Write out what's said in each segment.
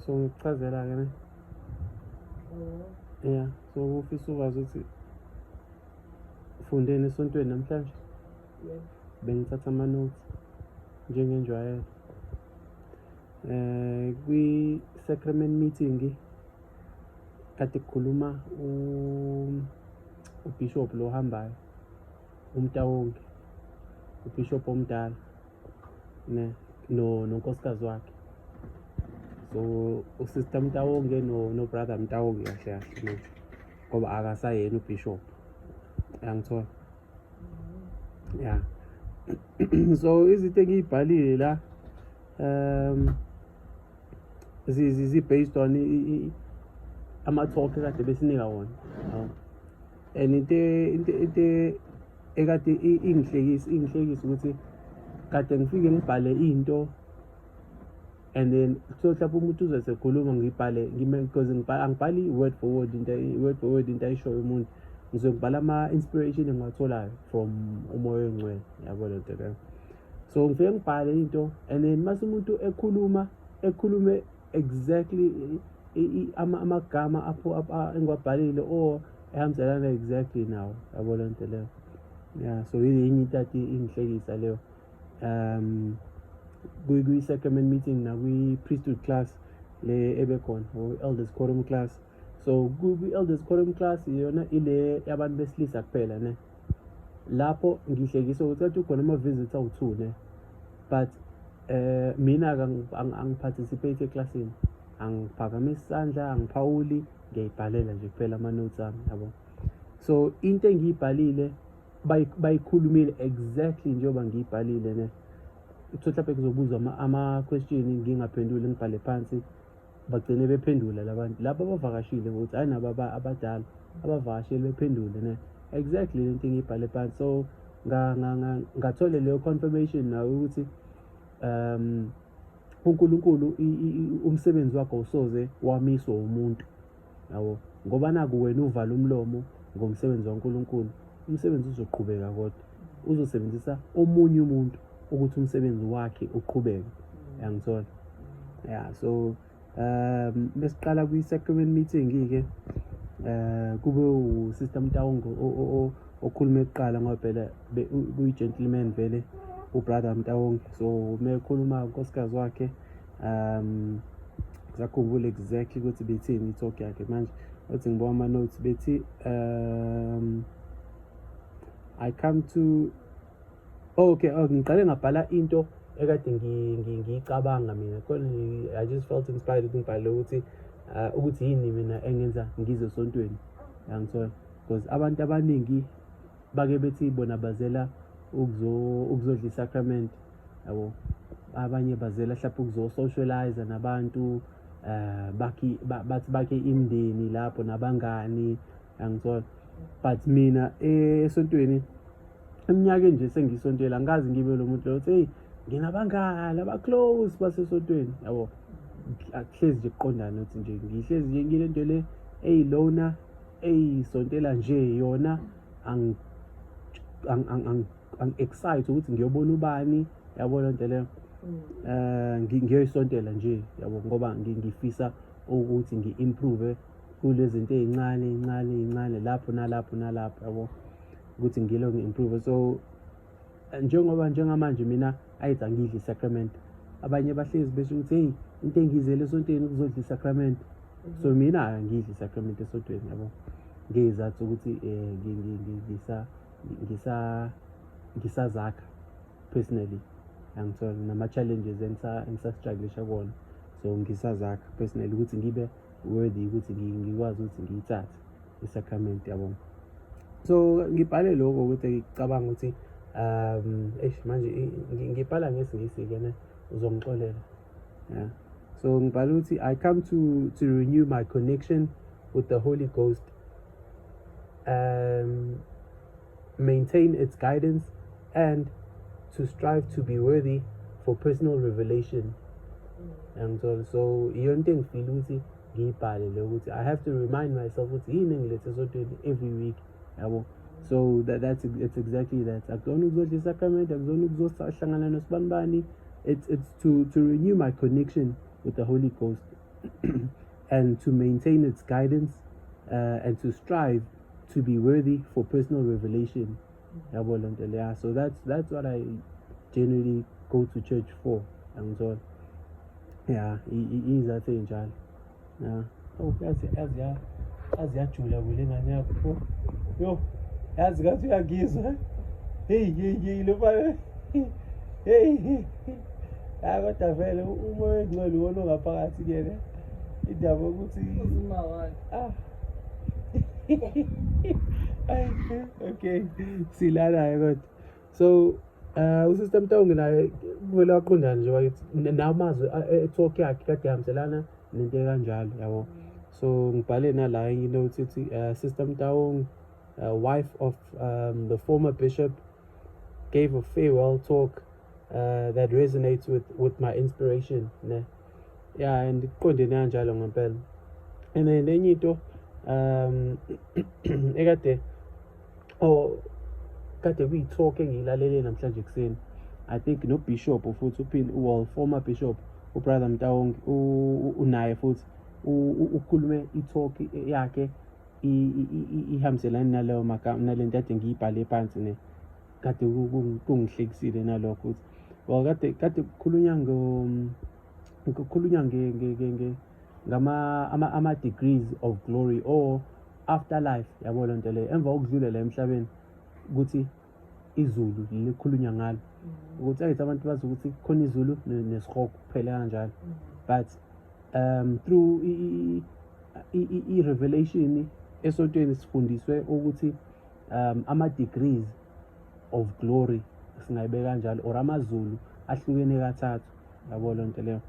so ngikuchazela-ke ne mm. ya so kufisa ukwazi ukuthi ufundeni esontweni namhlanje bengithatha ama-notes njengenjwayelo eh kwi-sacrament meeting kade kukhuluma ubishop lo hambayo umtawonke ubishop omdala ne no nonkosikazi wakhe so usister mtawonge no no brother mtawonge kahle kahle no ngoba akasayena ubishop yangithola ya so izinto engiyibhalile la um zi-based on ama-talk kade besinika wona and into into into ekade ingihlekisa ingihlekisa ukuthi kade ngifike ngibhale into and then so mhlawumbe umuntu uze sekhuluma ngibhale because angibhali i-word for word into i-word for word into ayishoyo umuntu ngize ngibhala ama-inspiration engiwatholayo from umoya oyingcwele yabo le nto leyo so ngifike ngibhale into and then mase umuntu ekhuluma ekhulume exactly amagama apho engiwabhalile or ehambiselana exactly nawo yabo le nto leyo ya so yenye into athi ingihlekisa leyo um kwi-sacrament meeting nakwi-priesthood class le ebekhona or elders quorum class so kwi-elders quorum class yona ile yabantu besilisa kuphela ne lapho ngihlekiswa ukuthi athi ukhona ama-visits awu-two ne but um mina angiparticipate eklasini angiphakamisi isandla angiphawuli ngiyayibhalela nje kuphela ama-notes ami yabo so into engiyibhalile bayikhulumile exactly njengoba ngiyibhalile ne kuthiwa mhlawumbe kuzobuzwa ama-question ngingaphenduli ngibhale phansi bagcine bephendula labantu laba abavakashile ukuthi hayi nabo abadala abavakashile bephendule ne exactly lento engiyibhale phansi so ngathole leyo confirmation nawe ukuthi um uNkulunkulu umsebenzi wakhe usoze wamiswa umuntu yabo ngoba naku wena uvala umlomo ngomsebenzi waNkulunkulu umsebenzi uzoqhubeka kodwa uzosebenzisa omunye umuntu ukuthi umsebenzi wakhe uqhubeke yangithola ya so um besiqala kwi-sacrament meeting-ke um kube usister mtawongo okhulume kuqala ngoba phela kuyi-gentleman vele ubrother mtawongo so uma ekhuluma unkosikazi wakhe um sakhumbula exactly ukuthi bethini i-talk yakhe manje othi ngibawa ama-notes bethi um i come to oh, okay oh, ngiqale ngabhala into ekade ngiyicabanga mina khona i just felt inspired ukuthi ngibhale ukuthi uh, ukuthi yini mina engenza ngize esontweni yangithola because abantu abaningi bake bethi bona bazela ukuzodla isakramente yabo abanye bazela hlapha ukuzosocialize nabantu eh bakhi bathi bakhe imndeni lapho nabangani angithola but mina esontweni eminyakeni nje sengisontela ngikazi ngibe lo muntu loyo hey nginabangani abaclose basesontweni yabo akuhlezi nje kuqondana ukuthi nje ngihlezi nje ngile nto le eyilona eyisontela nje yona I'm excited ukuthi ngiyobona ubani yabo le nto leyo eh ngiyoyisontela nje yabo ngoba ngifisa ukuthi ngi-improve kulezinto ezincane incane incane lapho nalapho nalapho yabo ukuthi ngilo ngi-improve so njengoba njengamanje mina ayithi angidli sacrament abanye bahlezi besho ukuthi heyi into engizele esontweni ukuzodla isacrament so mhm. mina angidli isacrament esontweni yabo ngeyizathu ukuthi um ngisa ngisa ngisazakha personally angitholi nama-challenges engisastruglisha kuwona so ngisazakha personally ukuthi ngibe worthy ukuthi ngikwazi ukuthi ngiyithathe i-sacrament yabona so ngibhale lokho ukuthi ngicabanga ukuthi um eish manje ngibhala ngesingisi-ke ne uzongixolela yeah. so ngibhala ukuthi i come to, to renew my connection with the holy ghost um, maintain its guidance, and to strive to be worthy for personal revelation. And so, so iyona into engifile ukuthi ngiyibhale le ukuthi i have to remind myself ukuthi yini engilethe esodweni every week yabo so that, that's it's exactly that akuzona ukuzodla isakramente akuzona ukuzohlangana nosibanibani it's, it's to, to renew my connection with the holy ghost and to maintain its guidance uh, and to strive to be worthy for personal revelation so that's that's what i generally go to church for angithola ya izathi ey'njalo ya oh yazi yazi ya yazi yajula kule ngane yakho yo yazi ngathi uyangizwa heyi heyi heyi lo mfana heyi heyi hayi kodwa vele uma wengcwele iwona ongaphakathi kuyena indaba yokuthi ah. okay silanayo kodwa so um usystem tawungi naye kuvele waqondani nje wakithi nawo mazwi e-talk yakhe kade ehambiselana nento ekanjalo yabo so ngibhale nala enye into ukuthi ithi um system tawongi uh, wife of um, the former bishop gave a farewell talk uh, that resonates with, with my inspiration ne yeah and kuqondene kanjalo ngempela and then enye into um ekade oh kade kuyi-talk engiyilalele namhlanje ekuseni i think nobishop futhi uphinde well former bishop ubrother mtawonke unaye futhi ukhulume i-talk yakhe ihambiselani naleyo magama nale nto ade ngiyibhale phansi ne kade kungihlekisile nalokho ukuthi or kade kade kukhulunywa ngo kukhulunywa nge nge nge nge ngama ama ama degrees of glory or after life yabo le nto leyo emva kokudlulela emhlabeni ukuthi izulu likhulunywa ngalo mm. ukuthi ayithi abantu bazi ukuthi khona izulu nesihogo kuphela kanjalo mm. but um through i-revelation esotweni sifundiswe ukuthi um ama-degrees of glory singayibeka kanjalo or amazulu ahlukene kathathu yabo loo nto leyo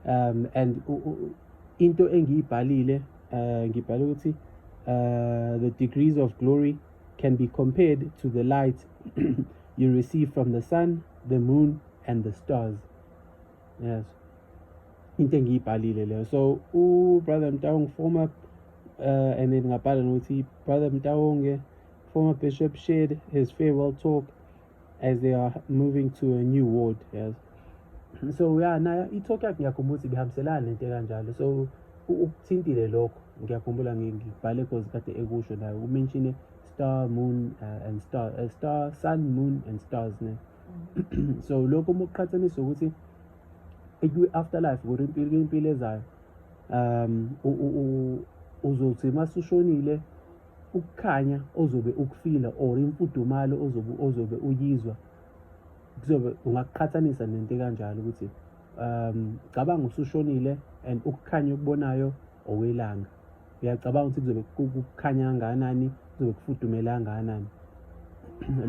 um and into engiyibhalile um ngibhale ukuthi um the degrees of glory can be compared to the light you receive from the sun the moon and the stars yes into engiyibhalile leyo so ubrother mtawonge former uh, and then ngabhala nokuthi brother mtawonge former bishop shared his farewell talk as they are moving to a new ward yes so ya nayo i-talk yakhe ngiyakhumbula ukuthi ibihambiselana nento ekanjalo so ukuthintile lokho ngiyakhumbula ngibhale cause kade ekusho nayo umenshine star moon uh, and star uh, star sun moon and stars ne so lokho uma uqhathanisa ukuthi kwi-afterlife kuri impilo impilo ezayo um uzothi uma sushonile ukukhanya ozobe ukufila or imfudumalo ozobe ozobe uyizwa kuzobe ungakuqhathanisa nento kanjalo ukuthi um cabanga usushonile and ukukhanya okubonayo owelanga uyacabanga ukuthi kuzobe kukhanya kangakanani kuzobe kufudumele kangakanani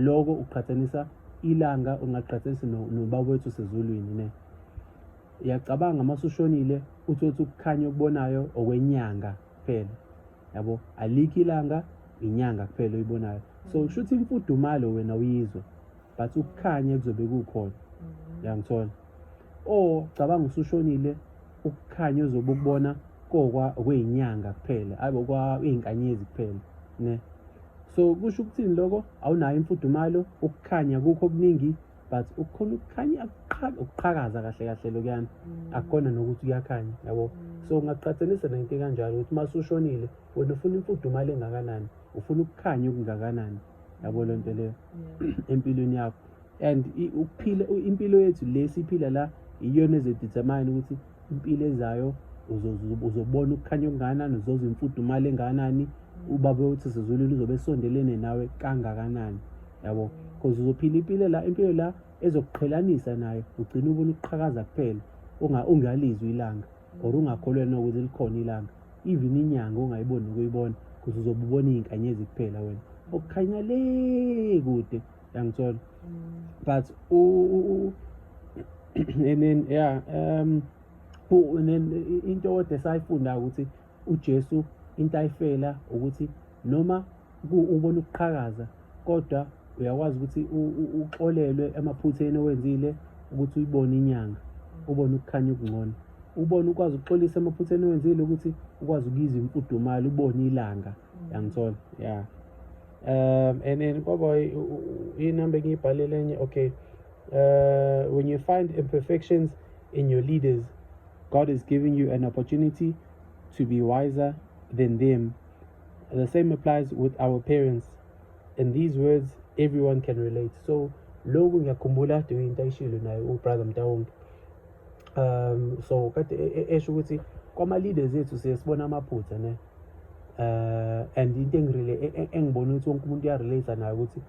loko uqhathanisa ilanga ungaqhathanisa nobaba wethu sezulwini ne uyacabanga uma usushonile uthi othi ukukhanya okubonayo okwenyanga kuphela yabo alikho ilanga inyanga kuphela oyibonayo so mm. kusho ukuthi imfudumalo wena uyizwa but ukukhanya kuzobe kukhona mm. uyangithola o oh, cabanga usushonile ukukhanya ozobe ukubona kokwa kweyinyanga kuphela ayibo kwa izinkanyezi kuphela ne so kusho ukuthini lokho awunayo imfudumalo ukukhanya kukho okuningi but ukukhona ukukhanya ukuqhakaza kahle kahle lokuyana mm. akukona nokuthi kuyakhanya yabo mm. so ungaqhathanisa nento kanjalo ukuthi uma usushonile wena ufuna imfudumalo engakanani ufuna ukukhanya okungakanani yabo lento leyo empilweni yakho and ukuphila impilo yethu le siphila la iyona ezodetermine ukuthi impilo ezayo uzobona ukukhanya okungakanani uzoza imfudumalo engakanani ubaba uthi sizulwini uzobe esondelene nawe kangakanani yabo because uzophila impilo la impilo la ezokuqhelanisa nayo ugcina ubona ukuqhakaza kuphela ungalizwi ilanga or ungakholwena ukuthi likhona ilanga even inyanga ongayiboni ukuyibona because uzobubona iy'nkanyezi kuphela wena okukhanya le kude yangithola but u u- u- and then yeah um u- and then i- into kodwa esayifunda ukuthi uJesu into ayifela ukuthi noma ku- ubona ukuqhakaza kodwa uyakwazi ukuthi u- u- uxolelwe emaphutheni owenzile ukuthi uyibone inyanga ubone ukukhanya okungcono ubone ukwazi ukuxolisa emaphutheni owenzile ukuthi ukwazi ukuyizwa imfudumalo ubone ilanga yangithola ya um and then baba inumber engiyibhalele enye okay uh, when you find imperfections in your leaders god is giving you an opportunity to be wiser than them the same applies with our parents and these words everyone can relate so lokhu ngiyakhumbula kade uyinto ayishilo naye ubrother mtawonke um so kade e, e, esho ukuthi kwama-leaders ethu siye sibona amaphutha ne uh and into engirele e, engibona ukuthi wonke umuntu uyarelate nayo ukuthi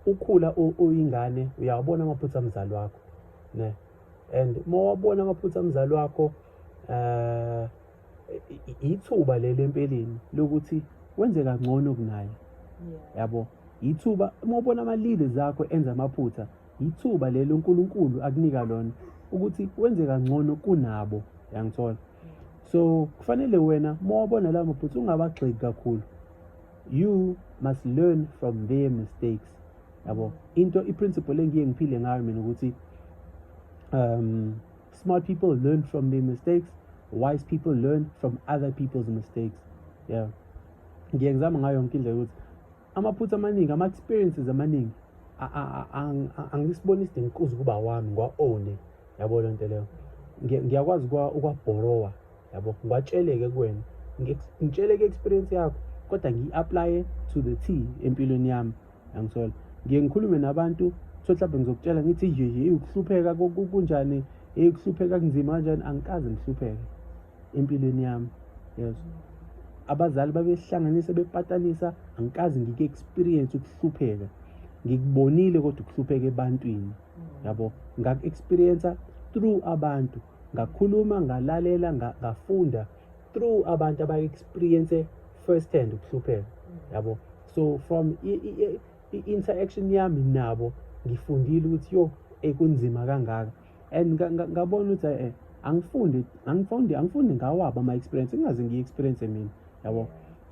ukhula uyingane uyawabona amaphutha amzali wakho ne and uma wabona amaphutha amzali wakho uh ithuba leli empeleni lokuthi wenze kangcono kunaye yabo ithuba uma ubona ama-leaders akho enza amaphutha Yithuba leli uNkulunkulu akunika lona ukuthi wenze kangcono kunabo yangithola so kufanele wena uma wabona lawo maphutha ungabagxeki kakhulu you must learn from their mistakes yabo into i-principle engiye ngiphile ngayo mina ukuthi um smart people learn from their mistakes wise people learn from other people's mistakes yeah ngiye ngizama ngayo yonke indlela ukuthi amaphutha amaningi ama-experiences amaningi angisiboni isidingo kuze ukuba wami ngiwa-one yabo le nto leyo ngiyakwazi ukwabhorowa yabo ngiwatsheleke kuwena ngitsheleke experience yakho kodwa ngiyi-aplaye to the t empilweni yami yangisola ngiye ngikhulume nabantu so mhlawumbe ngizokutshela ngithi yeye ukuhlupheka kunjani eyi kuhlupheka kunzima kanjani angikaze ngihlupheke empilweni yami yes abazali babehlanganisa bepatanisa angikaze ngike experience ukuhlupheka ngikubonile kodwa ukuhlupheka ebantwini yabo ngaku experience through abantu ngakhuluma ngalalela ngafunda through abantu aba experience first hand ukuhlupheka yabo so from i interaction yami nabo ngifundile ukuthi yo ekunzima kangaka and ngabona ukuthi eh angifundi angifundi angifundi ngawaba ama experience ingaze ngiyi experience mina yabo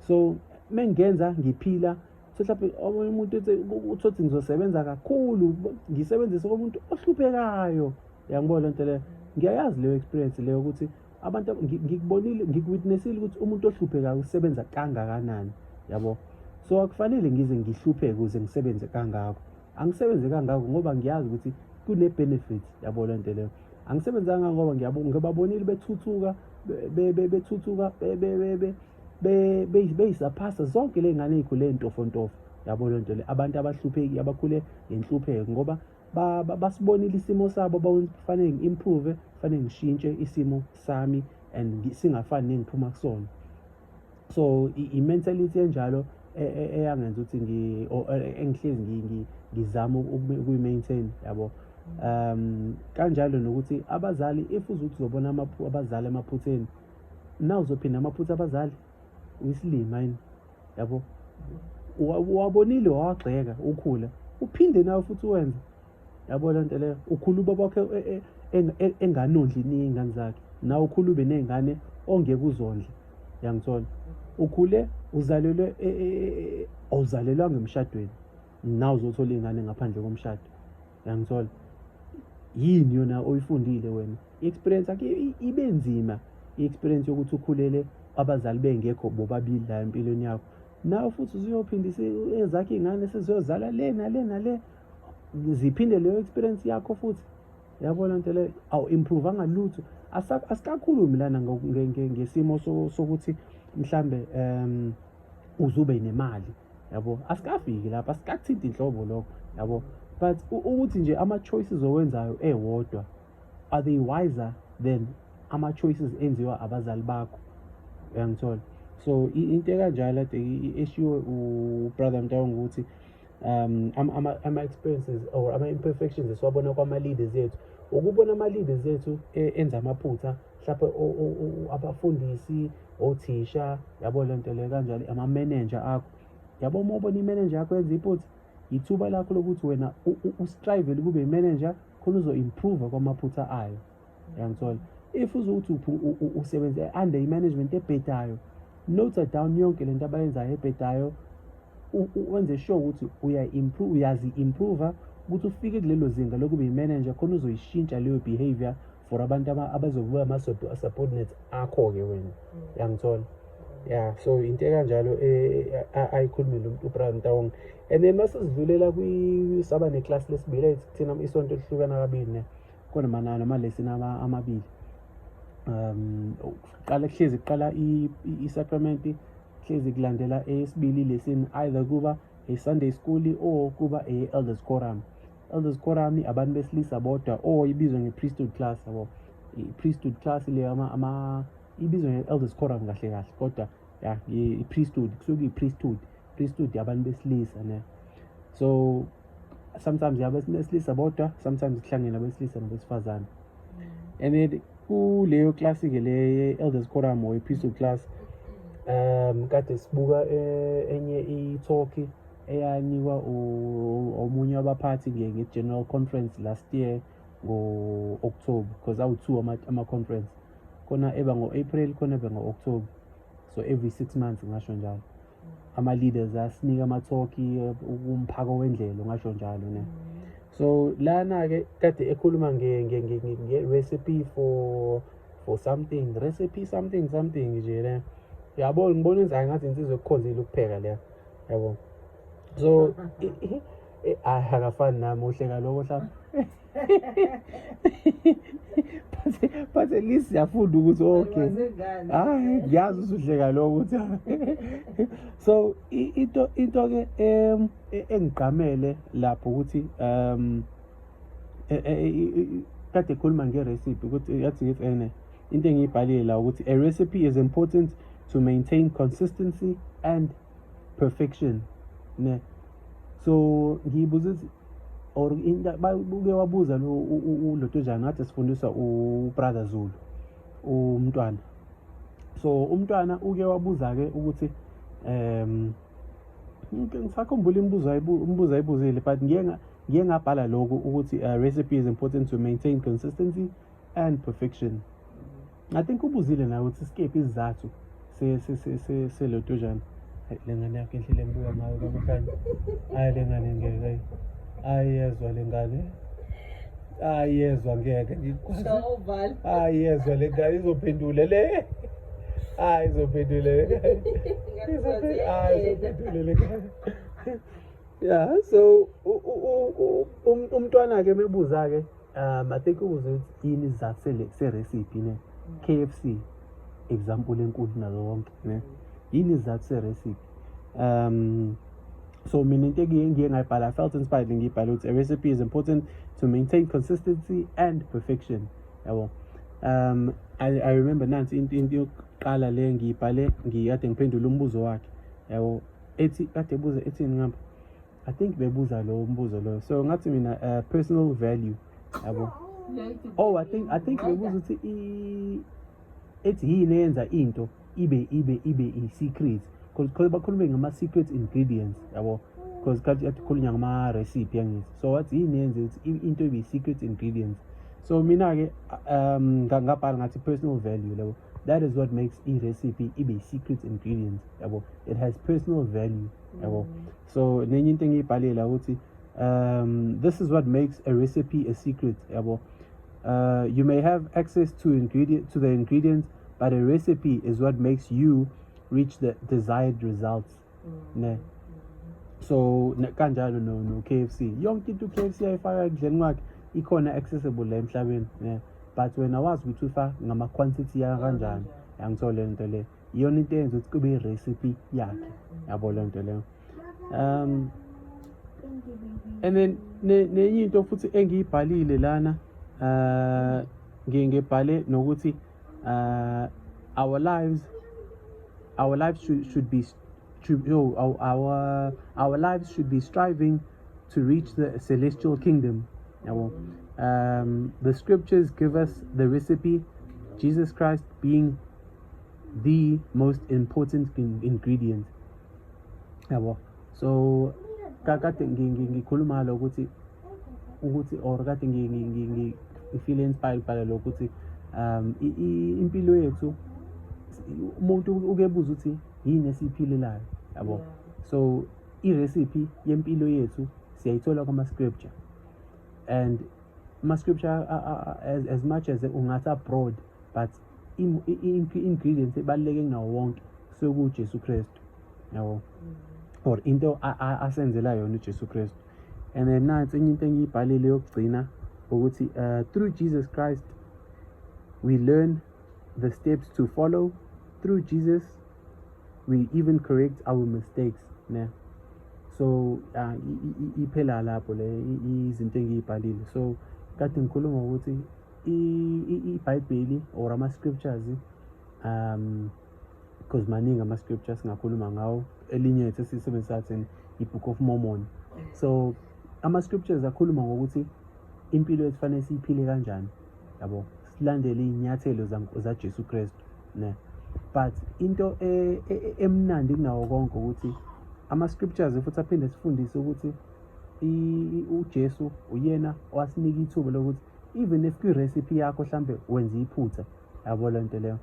so mengenza ngiphila so mhlawumbe omunye umuntu ethi uthothi ngizosebenza kakhulu ngisebenzise komuntu ohluphekayo yangibona lento leyo ngiyayazi leyo experience leyo ukuthi abantu ngikubonile ngikuwitnessile ukuthi umuntu ohluphekayo usebenza kangakanani yabo so akufanele ngize ngihlupheke ukuze ngisebenze kangako angisebenze kangako ngoba ngiyazi ukuthi kune-benefit yabo le nto leyo angisebenzanga ngoba ngibabonile bethuthuka bethuthuka beyisaphasa zonke le ngane ey'khule ntofontofo yabo le nto le abantu abahlupheki abakhule ngenhlupheko ngoba basibonile isimo sabo kufanele ngi-improve kufanele ngishintshe isimo sami and singafani nengiphuma kusona so i-mentality enjalo e, e, eyangenza ukuthi ngi or e, engihlezi ngizama ukuyi-maintain yabo um kanjalo nokuthi abazali if uzuthi uzobona abazali emaphutheni na uzophinda amaphutha abazali uyisilima yini yabo wabonile wawagxeka ukhula uphinde nawe futhi wenze yabo le nto leyo ukhula ubaba wakhe e, e, e, enganondli niy'ngane zakhe nawe ukhula ube ney'ngane ongeke uzondle yangithola ukhule uzalelwe awuzalelwanga emshadweni nawe uzothola iy'ngane ngaphandle komshado yangithola yini yona oyifundile wena i-experience yakhe ibe nzima i-experience yokuthi ukhulele abazali bengekho bobabili la empilweni yakho nawe futhi usuyophindisa ezakhe iy'ngane seziyozala le nale nale ziphinde leyo experience yakho futhi yabona nto leyo awu improve angalutho asikakhulumi lana ngesimo sokuthi mhlambe um uzube nemali yabo asikafiki lapho asikathinti inhlobo lokho yabo but ukuthi nje ama-choices owenzayo ewodwa are they wiser than ama-choices enziwa abazali bakho uyangithola so into ekanjalo ade eshiwe ubrother mtawonga ukuthi um ama-experiences ama or ama-imperfections esiwabona kwama-leaders ethu ukubona ama-leaders ethu e, enza amaphutha mhlawumbe abafundisi othisha yabo le nto leyo kanjalo ama-manager akho yabo uma ubona i-manager yakho yenza iphutha yithuba lakho lokuthi wena ustrivele kube i-manager khona uzo-improve kwamaphutha ayo uyangithola if uzokuthi usebenza under i-management ebhedayo note down yonke le nto abayenzayo ebhedayo wenze sure ukuthi uya-improve uyazi-improva ukuthi ufike kulelo zinga lokuba yi-manager khona uzoyishintsha leyo behavior for abantu abazokuba ama-subordinates akho-ke wena mm. yangithola ya so into ekanjalo e, e, ayikhulumile umuntu ubrian tawong and then masesidlulela saba neclass lesibili thina isonto elihlukana kabili ne Kodwa manana amalesson amabili. Um kuqala kuhlezi kuqala i-sacrament kuhlezi kulandela eyesibili lesson either kuba e-Sunday school or kuba e-elders quorum. Elders quorum abantu besilisa bodwa or ibizwa nge-priesthood class yabo. I-priesthood class le ama ama ibizwa nge-elders quorum kahle kahle kodwa ya i-priesthood kusuke i-priesthood please study abantu besilisa ne so sometimes yabesilisa bodwa sometimes kuhlangene abesilisa nabesifazane mm. and then kuleyo klasi ke le elders quorum or epistle class um kade sibuka eh, enye i-talk eyanikwa omunye wabaphathi nge-general conference last year ngo-october because awu-two ama-conference khona eba ngo-april khona eba ngo-october so every six months ngasho njalo ama-leaders asinika amathoki umphako wendlela ungasho njalo ne so lana-ke kade ekhuluma nge-recipe for for something recipe something something nje le yabo ngibona inzayo ngathi insizwe ekukhonzile ukupheka leya yabo so akafani nami uhleka loko hlaba phathe list yafunda ukuthi okay hayi ngiyazi usuhleka lokho ukuthi so into into ke em e, engigqamele lapho ukuthi um e, e, kade khuluma ngerecipe ukuthi yathi ngithi ene into engiyibhalile la ukuthi a recipe is important to maintain consistency and perfection ne so ngiyibuza ukuthi or uke wabuza lo udlotshana ngathi sifundiswa ubrother zulu umntwana so umntwana uke wabuza-ke ukuthi um ngisakhumbula imibuzo umbuzo ayibuzile but ngiye ngabhala lokhu ukuthi uh, recipe is important to maintain consistency and perfection I think ubuzile nawe ukuthi sikephi isizathu selotujana hayi le ngane yakho indlela engibuka ngayo kabuhlanye hayi le ngane ngeke ayezwa le ngane ayezwa ngeke ayezwa le ngane izophendule le hayi izophendule le izophendule le ngane ya so umntwana-ke mebuza-ke um i think ubuze ukuthi yini izizathu sele- serecipe ne k f c example enkulu nazo zonke ne yini izizathu serecipe um so mina into engiye ngiye ngayibhala i felt inspired ngiyibhala ukuthi a recipe is important to maintain consistency and perfection yabo um i, I remember nansi into into yokuqala le ngiyibhale ngiyade ngiphendula umbuzo wakhe yabo ethi kade ebuza ethini ngapha I think bebuza lowo mbuzo loyo. So ngathi mina uh, personal value yabo. Oh I think I think bebuza ukuthi i ethi yini eyenza into ibe ibe ibe i secret because bakhulume ngama secret ingredients yabo because kade akhulunya ngama recipe yangithi so wathi yini yenze ukuthi into ibe secret ingredients so mina ke um ngabhala ngathi personal value labo that is what makes i recipe ibe secret ingredients yabo it has personal value yabo mm. so nenye into engiyibhalela ukuthi um this is what makes a recipe a secret yabo uh, you may have access to ingredient to the ingredients but a recipe is what makes you reach the desired results mm. ne so kanjalo no no KFC yonke into KFC ayifaka ekudleni kwakhe ikhona accessible la emhlabeni ne but wena wazi ukuthi ufa ngama quantity ya kanjani yangithola lento le iyona into eyenza ukuthi kube i-recipe yakhe yabo loo nto leyo um and then nenye into futhi engiyibhalile lana uh ngiye ngebhale nokuthi uh our lives our lives should, should be to, no, our, our our lives should be striving to reach the celestial kingdom yabo um the scriptures give us the recipe Jesus Christ being the most important ingredient yabo so kade ngikhuluma ngalo ukuthi ukuthi or kade ngifile inspired bhala lokho ukuthi um impilo yethu umuntu ukebuza ukuthi yini esiyiphilelayo yabo so i-recipe yempilo yethu siyayithola kuma-scripture and ama-scripture as, as much as ungathi abroad but i-ingredients ebaluleke kunawo wonke kusuke kujesu kristu yabo or into asenzela yona ujesu kristu and then nansi enye into engiyibhalile yokugcina ukuthi uh, through jesus christ we learn the steps to follow through jesus we even correct our mistakes ne so uh, iphela lapho le izinto engiyibhalile so kade ngikhuluma ukuthi ibhayibheli or ama-scriptures um because maningi ama-scripture singakhuluma ngawo elinye ethu esiyisebenzisa thina i-book of mormon so ama-scriptures akhuluma ngokuthi impilo yethu fanele siyiphile kanjani yabo silandele iy'nyathelo zajesu kristu ne but into e, e, e, emnandi kunawo konke ukuthi ama-scriptures futhi aphinde sifundise ukuthi uJesu uyena owasinika ithuba lokuthi even if kwi-recipe yakho mhlambe wenza iphutha yabo le nto leyo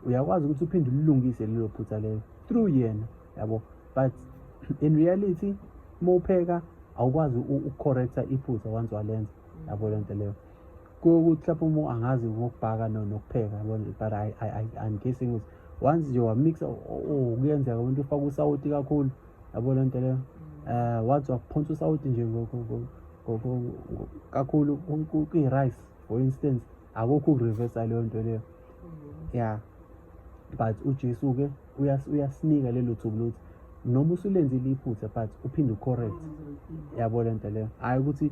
uyakwazi ukuthi uphinde ulilungise lelo phutha lelo through yena yabo but in reality uma upheka awukwazi ukucorrecta iphutha once walenza yabo le nto leyo kuyokuthi lapho uma angazi ngokubhaka nokupheka yabo but i'm guessing ukuthi once nje wamixa kuyenzeka umuntu ufaka usawoti kakhulu yabo lento leyo um wathi wakuphonsa usawuti nje kakhulu kwi-rice for instance akukho ukureversa leyo nto leyo mm-hmm. ya but ujesu-ke uyasinika lelo thubu lokuthi noma usulenzile iphutha but uphinde ucorrect mm-hmm. yabo le nto leyo hhayi ukuthi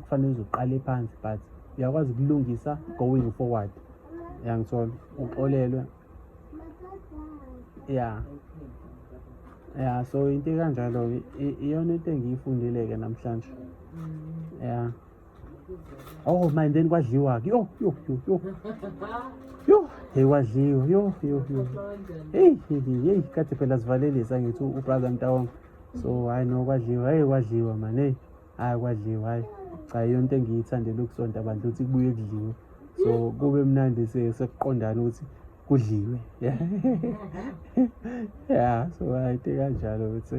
kufanele uze uqale phansi but uyakwazi ukulungisa going forward yangithola uxolelwe ya ya so into kanjalo iyona into engiyifundile-ke namhlanje ya oh manje then kwadliwa-ke yo yo yo yo yo hey kwadliwa yo yo yo heyi heyi heyi kade phela sivalelisa ngithi ubrother mtawonga so hhayi no kwadliwa heyi kwadliwa mani heyi hayi kwadliwa hayi cha yonto engiyithandela ukusonta abantu ukuthi kubuye kudliwe so kube mnandi sekuqondana ukuthi kudliwe ya so hayi kanjalo ukuthi